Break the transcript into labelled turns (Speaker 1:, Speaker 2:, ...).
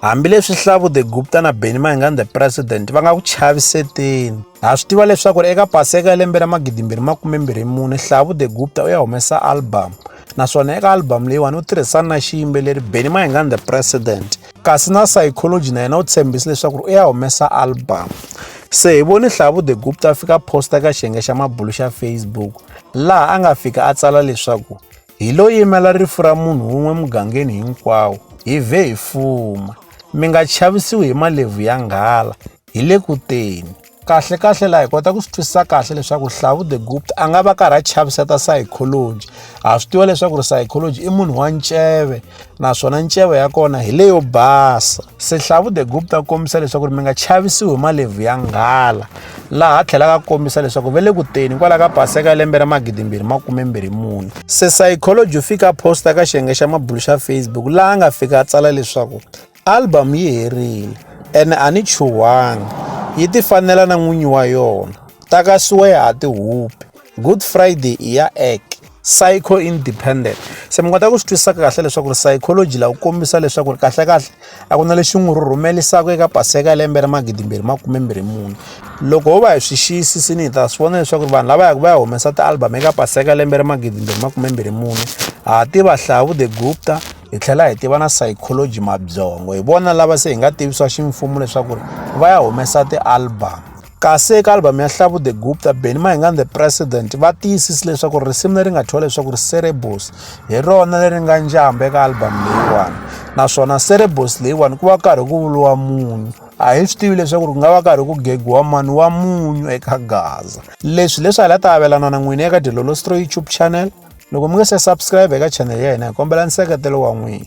Speaker 1: Hambileswi Hlavu the Gupta na Benny Mayengani the President va nga ku chaviseteni, ha swi tiva leswaku eka Paseka ya lembe ra 2024 Hlavu the Gupta u ya humesa album naswona eka album leyiwani u tirhisana na xiyimbeleri Benny Mayengani the President kasi na Psychology na yena u tshembise leswaku u ya humesa album. Se hi vone Hlavu the Gupta a fika posta eka xiyenge xa mabulu xa Facebook laha a nga fika a tsala leswaku hi lo yimela rifu ra munhu wun'we mugangeni hinkwawo hi vhe hi fuma mi nga chavisiwi hi malevhu ya nghala hi le kuteni kahle kahle laha hi kota ku swi twisisa kahle leswaku hlavu the gupt a nga va karhi a chaviseta psychology ha swi tiva leswaku ri psychology i munhu wa nceve naswona nceva ya kona hi leyo basa sehlavu the group ta kombisa leswaku ri mi nga chavisiwi hi malevhu ya nghala laha tlhelaka kombisa leswaku ve le kuteni kwala ka paseka ya lembe ra magidimbirhi makumembirhi mune se psychology u fika posta ka xiyenge xa mabulu xa facebook laha a nga fika a tsala leswaku album yi herile ene a ni chuhangi yi ti fanela na n'winyi wa yona takasiwa ya ha ti hupi good friday i ya ek psycho independent se mi kota ku swi twisisa kahle leswaku ri psychology lawu kombisa leswaku ri kahlekahle a ku na lexi n'wi rhumelisaka eka paseka ya lembe ra magidimbirhi makumembirhi mune loko ho va hi swi xiyisisini hi ta swi vona leswaku ri vanhu lava yaka va ya humesa ti-album eka paseka ya lembe ra magidimbirhi makumembirhi mune ha tiva hlavu the gupta hi tlhela hi tiva na psychology mabyongo hi vona lava se hi nga tivisiwa ximfumo leswaku ri va ya humesa ti-album kasi eka albhamu ya hlavu the gupta benny mahingani the president va tiyisisi leswaku risimu leri nga thyiwa leswaku ri cerebus hi rona leri nga njamba eka albhamu leyiwani naswona cerebus leyiwani ku va karhi ku vuriwa munyu a hi swi tivi leswaku ku nga va karhi ku gegiwa mani wa munyu eka gaza leswi leswi hala ta avelana na n'wini eka dilolostro youtube channel loko mi nga se subscribe eka channel ya hina hi kombela nseketelo wa n'wina